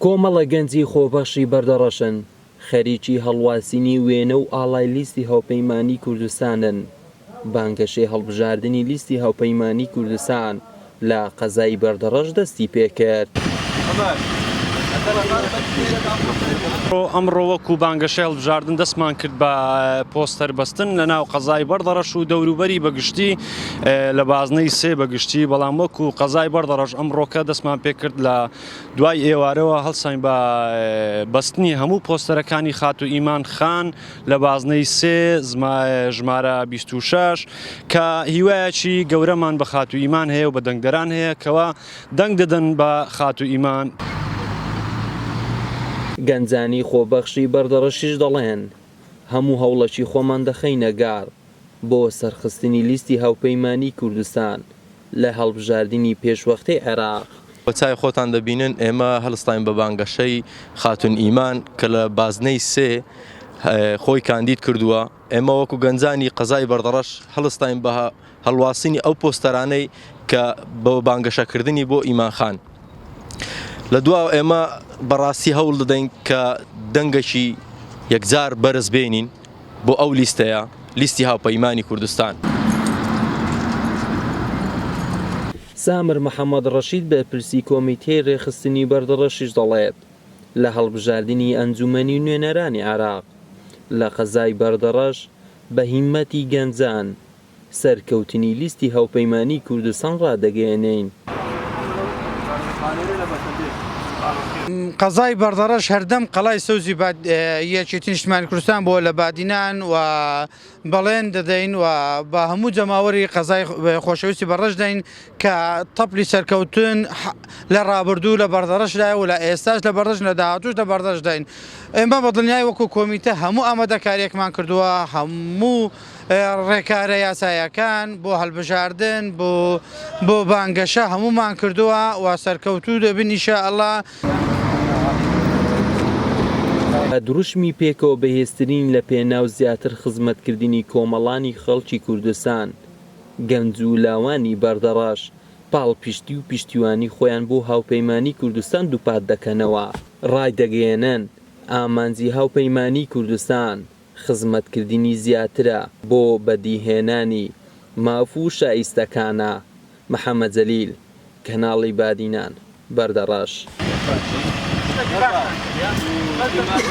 کۆمەڵە گەنجی خۆبەخشی بەردەڕەشن خەریکی هەڵواسینی وێنە و ئاڵای لیستی هاوپەیمانیی کوردستانن. بانگەشەی هەڵبژاردنی لیستی هاوپەیمانیی کوردستان لە قەزای بەردەڕەش دەستی پێ کرد. ئەمڕۆ وەکو بانگەشەی هەڵبژاردن دەستمان کرد بە پۆستەر بەستن لەناو قەزای بەردەڕەش و دەوروبەری بە گشتی. لە بازنەی سێ بە گشتی، بەڵام وەکو قەزای بەردەڕەش ئەمڕۆکە دەستمان پێکرد لە دوای ئێوارەوە هەڵساین بە بەستنی هەموو پۆستەرەکانی خاتوو ئیمان خان لە بازنەی سێ ژمارە بیست و شەش کە هیوایەکی گەورەمان بە خاتوو ئیمان هەیە و بە دەنگدەران هەیە کەوا دەنگ دەدەن بە خاتوو ئیمان. گەنجانی خۆبەخشی بەردەڕەشیش دەڵێن، هەموو هەوڵەکی خۆمان دەخەینە گەڕ بۆ سەرخستنی لیستی هاوپەیمانیی کوردستان لە هەڵبژاردنی پێشوەختەی عێراق. بە چاوی خۆتان دەبینن ئێمە هەلستاین بە بانگەشەی خاتوون ئیمان کە لە بازنەی سێ خۆی کاندید کردووە. ئێمە وەکو گەنجانی قەزای بەردەڕەش هەلستاین بە هەلواسینی ئەو پۆستەرانەی کە بە بانگەشە کردنی بۆ ئیمان خان لە دواوە ئێمە بە ڕاستی هەوڵ دەدەین کە دەنگەکی یەکجار بەرز بێنین. بۆ ئەو لیستەیە لیستی هاوپەیمانی کوردستان. سامر محەمەد ڕەشید بەرپرسی کۆمیتەی رێکخستنی بەردەڕەشیش دەڵێت، لە هەڵبژاردنی ئەنجومەنی نوێنەرانی عێراق لە قەزای بەردەڕەش بە هیمەتی گەنجان، سەرکەوتنی لیستی هاوپەیمانیی کوردستان ڕادەگەیەنین. قەزای بەردەڕەش هەردەم قەڵای سەوزی یەکێتی نیشتمانی کوردستان بووە لە بادینان و بەڵێن دەدەین و بە هەموو جەماوەری قەزای خۆشەویستی بەڕەش دەین کە تەپڵی سەرکەوتن لە ڕابردوو لە بەردەڕەش دایە و لە ئێستاش لە بەردەش لە داهاتووش لە بەردەش دەین ئێمە بە دڵنیایی وەکوو کۆمیتە هەموو ئامادەکاریەکمان کردووە هەموو ڕێکارە یاسایەکان بۆ هەڵبژاردن بۆ بۆ بانگەشە هەمومان کردووە و سەرکەوتوو دەبین ان شاء اللە. دروشمی پێکەوە بەهێزترین لە پێناو زیاتر خزمەتکردنی کۆمەڵانی خەڵکی کوردستان، گەنج و لاوانی بەردەڕەش پاڵپشتی و پشتیوانی خۆیان بۆ هاوپەیمانی کوردستان دووپات دەکەنەوە، ڕایدەگەیەنن، ئامانجی هاوپەیمانیی کوردستان، خزمەتکردنی زیاترە بۆ بەدیهێنانی ماف و شایستەکانە محەمەد جەلیل، کەناڵی بادینان، بەردەڕەش.